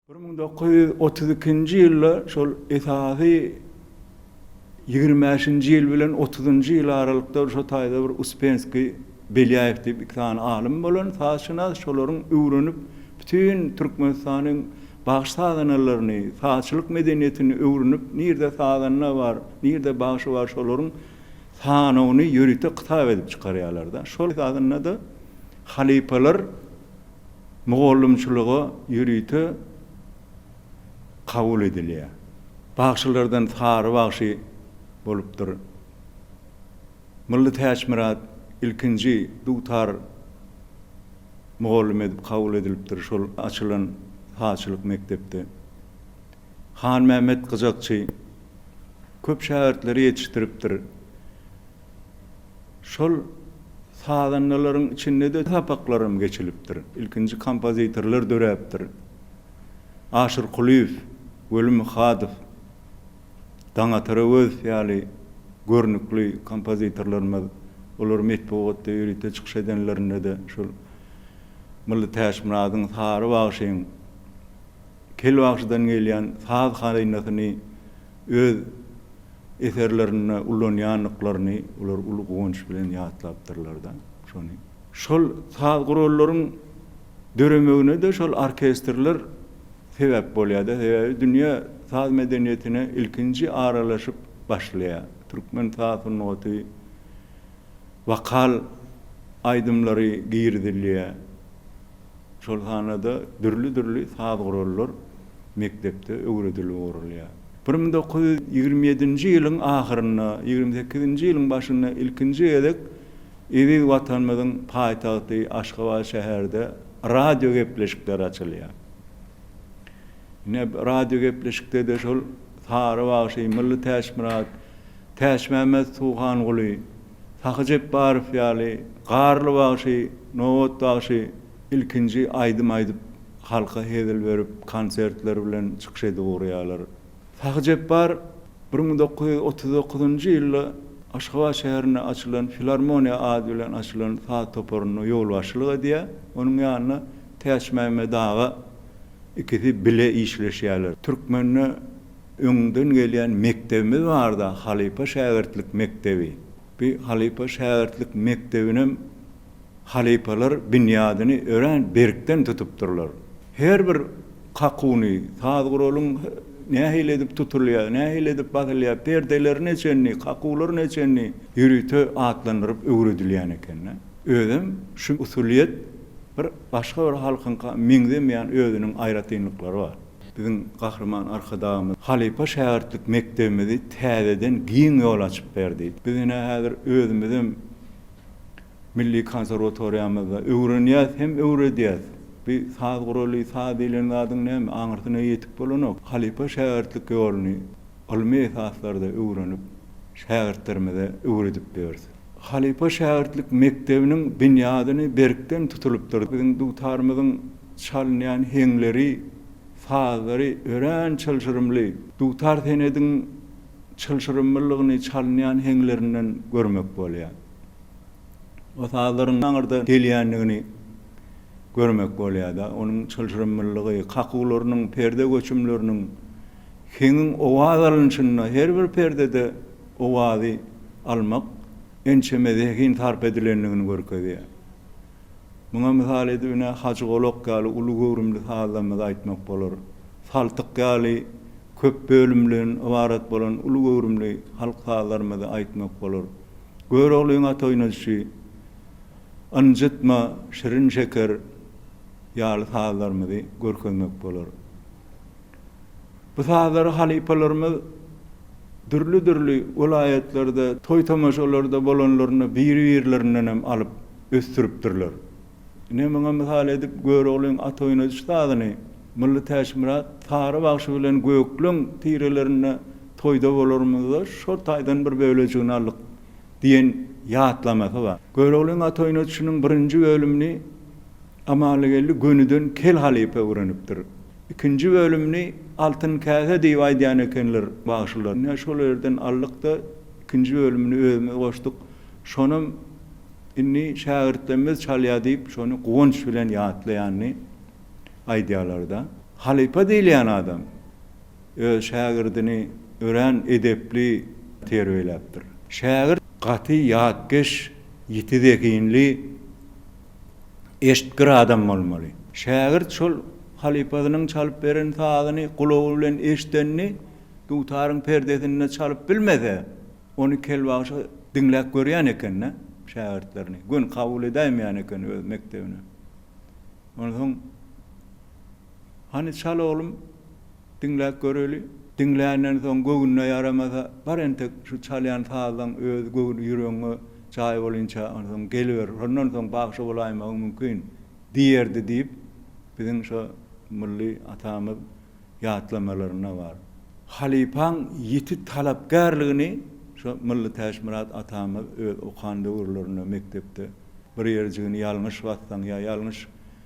Bir müň dokuz ýüz otuz ikinji ýylda şol esasy ýigrimi bäşinji ýyl bilen otuzynjy ýyl aralykda şo taýda bir Uspenskiý, Belýaýew diýip iki sany alym bolan, sazşynas, şolaryň öwrenip, bütin Türkmenistanyň bagş-sazanalaryny, sazçylyk medeniýetini öwrenip, nirde sazanda bar, nirde bagşy bar, şolaryň sanawyny ýörite kitap edip çykarýarlar-da. Şol esasynda-da halypalar. mugallymçylyga ýörite kabul edilýär. Bagşylardan Sary bagşy bolupdyr. Mylly Täçmyrat ilkinji dutar mugallym edip kabul edilipdir şol açylan sazçylyk mekdepde. Hanmämmet Gyjakçy köp şägirtleri ýetişdiripdir. Şol sazandalaryň içinde-de sapaklaram geçilipdir. Ilkinji kompozitorlar döräpdir. Aşyr Kulyýew, Weli Myhadow, Daňatar Öwezow ýaly görnükli kompozitorlarymyz, olar metbugatda ýörite çykyş edenlerinde-de şol Mylly Täçmyradyň, Sary bagşyň, Kelbagşydan gelýän saz hazynasyny öz eserlerinde ulanýandyklaryny olar uly guwanç bilen ýatlapdyrlar-da şony. Şol saz gurallaryň döremegine-de şol orkestrler sebäp bolýar-da, sebäbi dünýä saz medeniýetine ilkinji aralaşyp başlaýar. Türkmen saz sungaty, wokal aýdymlary girizilýär. Şol hanada dürli-dürli saz gurallar mekdepde öwredilip ugrulýar. Bir müň dokuz ýüz ýigrimi ýedinji ýylyň ahyrynda, ýigrimi sekizinji ýylyň başynda ilkinji gezek eziz Watanymyzyň paýtagty Aşgabat şäherde radio gepleşikleri açylýar. Ine, radio gepleşikde-de şol Sary bagşy, Mylly Täçmyrat, Täçmämmet Suwhanguly, Sahy Jepbarow ýaly Garly bagşy, Nobat bagşy ilkinji aýdym aýdyp, halka hezil berip, konsertler bilen çykyş edip ugraýarlar. Sahy Jepbar bir müň dokuz ýüz otuz dokuzynjy ýylda Aşgabat şäherinde açylan Filarmoniýa ady bilen açylan saz toparyna ýolbaşçylyk edýär. Onuň ýanynda Täçmämmet aga ikisi bile işleşýärler. Türkmende öňden gelýän mekdebimiz barda halypa-şägirtlik mekdebi. Bu halypa-şägirtlik mekdebinem halypalar binýadyny örän berkden tutupdyrlar. Her bir kakuny, saz guralyň nähili edip tutulýar, nähili edip basylýar, perdeleri neçenli, kakular neçenli ýörite atlandyryp öwredilýän eken-de. Özem şu usulyýet bir başga bir halkyňka meňzemeýän özüniň aýratynlyklary bar. Biziň Gahryman Arkadagymyz halypa şägirtlik mekdebimizi täzeden giň ýol açyp berdi. Biz ine häzir özümizem milli konserwatoriýamyzda öwrenýäs hem öwredýäs. Bu saz guraly, saz diýlen zadyň näme, aňyrsyna ýetik bolanok. Halypa şägirtlik ýoluny ylmy esaslarda öwrenip, şägirtlerimize öwredip ýörüs. Halypa şägirtlik mekdebiniň binýadyny berkden tutulypdyr. Biziň dutarymyzyň çalynýan heňleri, sazlary örän çylşyrymly. Dutar senediň çylşyrymlylygyny çalynýan heňlerinden görmek bolýar. O sazlaryň aňyrdan gelýändigini görmek bolýar-da. Onuň çylşyrymlylygy, kakuwlarynyň, perde göçümleriniň, heňiň owaz alnyşynda, her bir perdede owazy almak ençeme zehin sarp edilendigini görkezýär. Muňa mysal edip ine Hajygolak ýaly uly göwrümli sazlarymyzy aýtmak bolar. Saltyk ýaly köp bölümden ybarat bolan uly göwrümli halk sazlarymyzy aýtmak bolar. Göroglyň at oýnadyşy, Ynjytma, Şirin şeker ýaly sazlarymyzy görkezmek bolar. Bu sazlary halypalarymyz dürli-dürli welaýatlarda, toý-tomaşalarda bolanlarynda biri-birlerinden hem alyp ösdüripdirler. Ine, muňa mysal edip Göroglyň at oýnadyş sazyny Mylly Täçmyrat, Sary bagşy bilen Gökleň tirelerinde toýda bolarymyzda şol taýdan bir bölejigini aldyk diýen ýatlamasy bar. Göroglyň at oýnadyşynyň birinji bölümini. Amalygeldi gönüden Kel halypa öwrenipdir. Ikinji bölümini Altyn käse diýip aýdýan ekenler bagşylar. Ine, şol ýerden aldyk-da, ikinji bölümini özümiz goşduk. Şonam indi şägirtlerimiz çalýar diýip, şony guwanç bilen ýatlaýanyny aýdýarlar-da. Halypa diýilýän adam öz şägirdini örän edepli terbiýeläpdir. Şägirt gaty ýatkeş, ýiti zehinli. eşitgir adam bolmaly. Şägirt şol halypasynyň çalyp beren sazyny gulagy bilen eşidenini dutaryň perdesinde çalyp bilmese, ony kelbagşa diňläp görýän eken-dä, şägirtlerini göni kabul edäýmeýän eken öz mekdebine. Onsoň, Hany çal oglum! Diňläp göreli. Diňländen soň göwnüne ýaramasa, bar entek şu çalýan sazyň özi göwün ýüregiňe jaý bolynça onsoň geliber, şondan soň bagşy bolaýmagyň mümkin diýerdi diýip, biziň şo milli atamyz ýatlamalarynda bar. Halypaň ýiti talapkärligini şo milli Täçmyrat atamyz öz okan döwürlerinde mekdepde bir ýerjigini ýalňyş bassaň ýa ýalňyş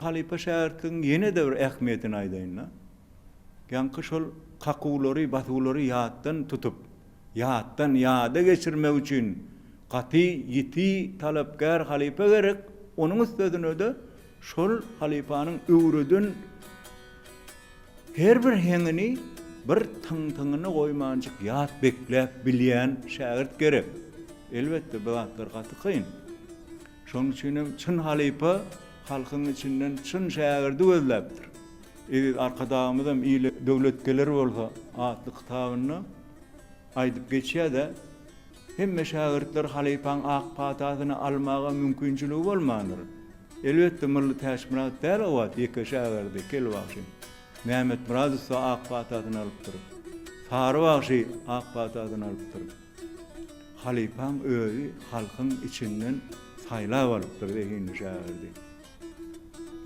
Halypa şägirtligiň ýene-de bir ähmiýetini aýdaýyn-da. Ýaňky şol kakuwlary, basuwlary ýatdan tutup, ýatdan ýada geçirmek üçin gaty ýiti, talapkär halypa gerek, onuň üstesine-de şol halypanyň öwreden Her bir heňini, bir tyň-tyňyny goýmanjyk ýat bekläp bilýän şägirt gerek. Elbetde, bu zatlar gaty kyn. Şonuň üçin hem çyn halypa halkyň içinden çyn şägirdi gözläpdir. Eziz Arkadagymyzam Ile döwlet geler bolsa atly kitabynda aýdyp geçýär-de, Hemme şägirtler halypaň ak patasyny almaga mümkinçiligi bolmandyr. Elbetde, Mylly Täçmyrat däl owaat ýeke şägirdi, Kel bagşy. Mämmetmyradow-da ak patasyny alypdyr. Sary bagşy ak patasyny alypdyr. Halypaň özi halkyň içinden saýlap alypdyr zehinli şägirdi.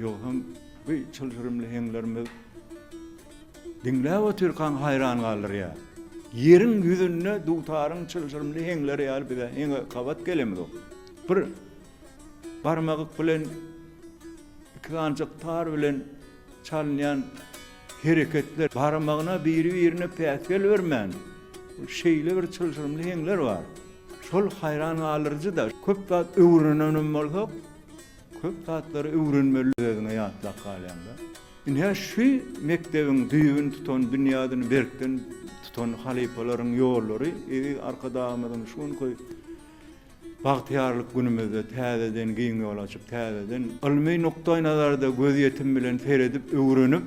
Ýogsam bu çylşyrymly heňlerimiz diňläp otyrkaň haýran galdyrýar. Ýeriň ýüzünde dutaryň çylşyrymly heňleri ýaly bize heňe gabat gelemzok. Bir barmagyk bilen iki sanjyk tar bilen çalynýan hereketler, barmagyna biri-birine päsgel bermän şeýle bir çylşyrymly heňler bar. Şol haýran galdyryjy-da. Köp zat öwrenenem bolsak, Köp zatlary öwrenmeli özüňe ýatlap galýanda. Ine şu mekdebiň düýbüni tutan binýadyny berkden tutan halypalaryň ýollary eziz Arkadagymyzyň şu günki bagtyýarlyk günümizde täzeden giň ýol açyp täzeden ylmy nukdaýnazarda gözýetim bilen seredip öwrenip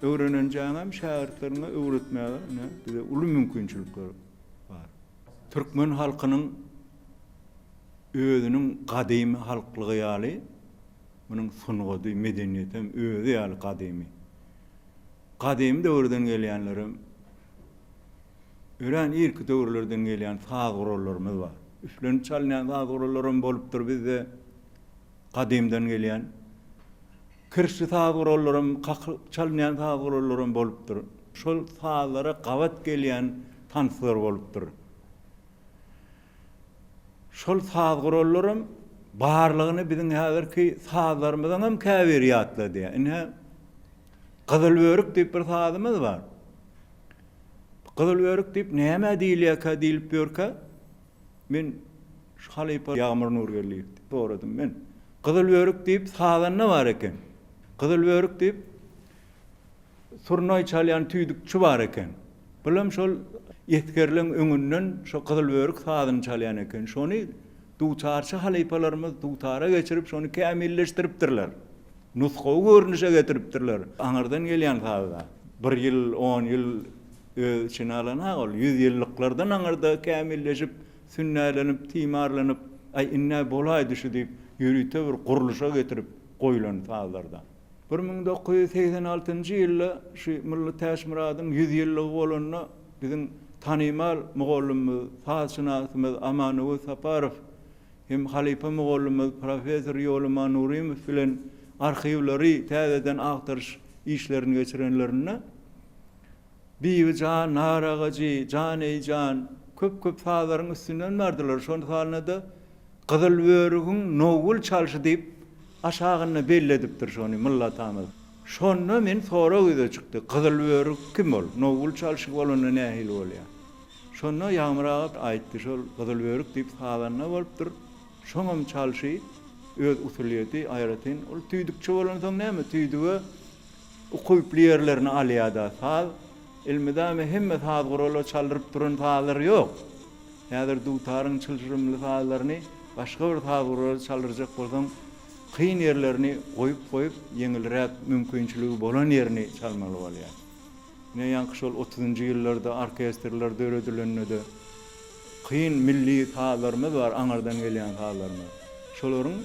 öwrenenjäňem şägirtleriňe öwretmäge ine bize uly mümkinçilikler bar. Türkmen halkynyň. Özüniň gadymy halklygy ýaly, munuň sungady, medeniýeti hem özi ýaly gadymy. Gadymy döwürden gelýänlerem, örän irki döwürlerden gelýän saz gurallarymyz bar. Üflenip çalynýan saz gurallaram bolupdyr bizde gadymdan gelýän. Kirişli saz gurallaram, kakylyp çalynýan saz gurallaram bolupdyr. Şol sazlara gabat gelýän tanslar bolupdyr. Şol saz gurallaram barlygyny biziň häzirki sazlarymyzyň hem käbiri ýatladýar. Ine, Gyzylbörük diýip bir sazymyz bar. Gyzylbörük diýip nämä diýilýärkä diýlip ýörkä, men şu halypa Ýagmyr Nurgeldiýewden soradym men. Gyzylbörük diýip sazanda bar eken. Gyzylbörük diýip surnaý çalýan tüýdükçi bar eken. Bulam şol esgerleň öňünden şo gyzyl börük sazyny çalýan eken. Şony dutarçy halypalarymyz dutara geçirip şony kämilleşdiripdirler. Nusgawy görnüşe getiripdirler. Aňyrdan gelýän sazda bir ýyl, on ýyl öz içine alan ha ol. Ýüz ýyllyklardan aňyrda kämilleşip, sünnälenip, timarlanyp, aý indi-ä bolaýdy şu diýip ýörite bir gurluşa getirip goýlan sazlarda. Bir müň dokuz ýüz segsen altynjy ýylda şu Mylly Täçmyradyň ýüz ýyllygy bolanda biziň tanymal mugallymymyz, sazşynasymyz Amanöwez Saparow hem halypa mugallymymyz professor Ýoluman Nurymow bilen arhiwleri täzeden agtaryş işlerini geçirenlerinde, Bibi jan, nar agajy, jan eý jan, köp köp sazlaryň üstünden bardylar, şon salynada Gyzyl börügiň nowgül çalşy diýip aşagynda belledipdir şony Mylla atamyz. Şonda men sorag ýüze çykdy, Gyzyl börük kim ol, nowgül çalşy bolanda nähili bolýa? Şonda Ýagmyr aga aýtdy, şol Gyzyl börük diýip sazanda bolupdyr, şoňam çalşy, öz usulyýeti, aýratyn ol tüýdükçi bolansoň näme tüýdüge, Ukyply ýerlerini alýada saz. Elmydama hemme saz guraly çaldyryp duran sazlar ýok. Häzir dutaryň çylşyrymly sazlaryny başga bir saz guraly çaldyrjak bolsaň, kyn ýerlerini goýup goýup, ýeňilräk mümkinçiligi bolan ýerini çalmaly bolýar. Ine ýaňky şol otuzynjy ýyllarda orkestrler döredilende-de, Kyn milli sazlarymyz bar, aňyrdan gelýän sazlarymyz. Şolaryň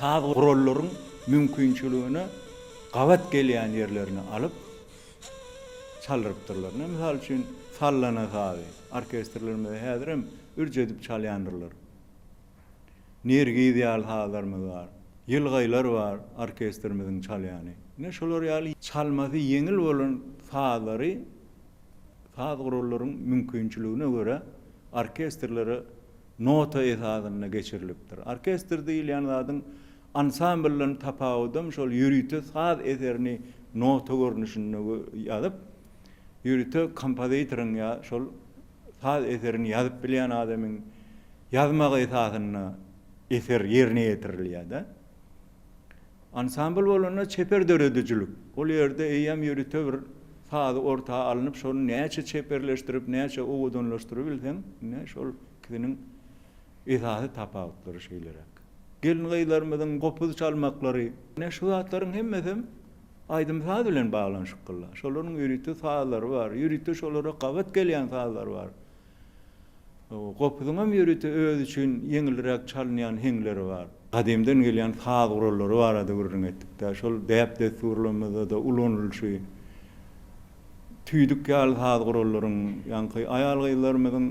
saz gurallaryň mümkinçiligine gabat gelýän ýerlerini alyp çaldyrypdyrlar. Ine, mysal üçin, sallana sazy orkestrlerimize häzirem ürç edip çalýandyrlar. Nergiz ýaly sazlarymyz bar. Ýylgaýlar bar orkestrimiziň çalýany. Ine şolar ýaly çalmasy ýeňil bolan sazlary saz gurallaryň mümkinçiligine görä orkestrlere nota esasynda geçirilipdir. Orkestr diýilýän zadyň ansambldan tapawudam şol ýörite saz eserini nota görnüşinde ýazyp, ýörite kompozitoryň ýa şol Saz eserini ýazyp bilýän adamyň ýazmagy esasynda eser ýerine ýetirilýär-de. Ansambl bolanda çeper döredijilik. Ol ýerde eýýäm ýörite bir sazy orta alnyp, şony näçe çeperleşdirip, näçe owadanlaşdyrybilseň, ine, şol ikisiniň esasy tapawutlary şeýleräk. Gelin-gyzlarymyzyň gopuz çalmaklary. Ine, şu zatlaryň hemmesem aýdym-saz bilen baglanyşyklylar. Şolaryň ýörite sazlary bar, ýörite şolara gabat gelýän sazlary bar. Gopuzyň hem ýörite özi üçin ýeňilräk çalynýan heňleri bar. Gadymdan gelýän saz gurallary barada gürrüň etdik-de, şol däp-dessurlarymyzda-da ulanylyşy tüýdük ýaly saz gurallaryň, ýaňky aýal-gyzlarymyzyň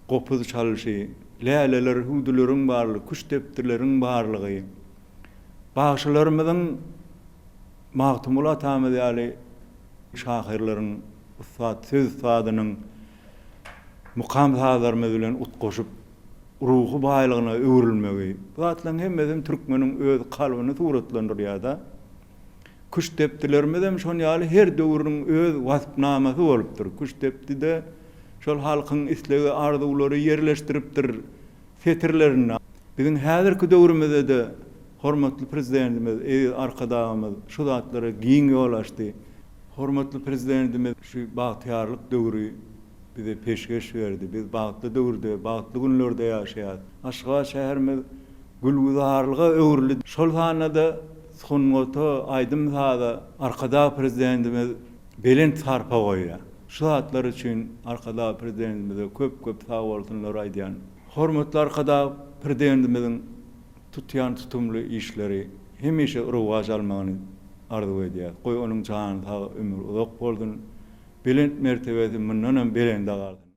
gopuz çalyşy, läleler, hüwdüleriň barlygy, küştdepdileriň barlygy, Bagşylarymyzyň Magtymguly atamyz ýaly şahyrlaryň, ussat söz ussadynyň mukam-sazlarymyz bilen utgaşyp, ruhy baýlygyna öwrülmegi, bu zatlaryň hemmesem türkmeniň öz kalbyny suratlandyrýar-da. Küştdepdilerimizem şon ýaly her döwrüň öz waspnamasy bolupdyr. Küştdepdi-de şol halkyň islegi, arzuwlary ýerleşdiripdir. setirlerinde biziň häzirki döwrümizde-de hormatly Prezidentimiz, eziz Arkadagymyz şu zatlara giň ýol açdy. Hormatly Prezidentimiz şu bagtyýarlyk döwri bize peşgeş berdi. Biz bagtly döwürde, bagtly günlerde ýaşaýarys. Aşgabat şäherimiz gülgüzarlyga öwrüldi. Şol sanda-da sungata, aýdym-saza Arkadag Prezidentimiz, belent sarpa goýýar. Şu zatlar üçin Arkadag Prezidentimize köp-köp sagbolsunlar aýdýan. Hormatly Arkadag Prezidentimiziň tutýan tutumly işleri hemişe rowaç almagyny arzuw edýäris. Goý onuň jany sag, ömri uzak bolsun, belent mertebesi mundanam belende galsyn!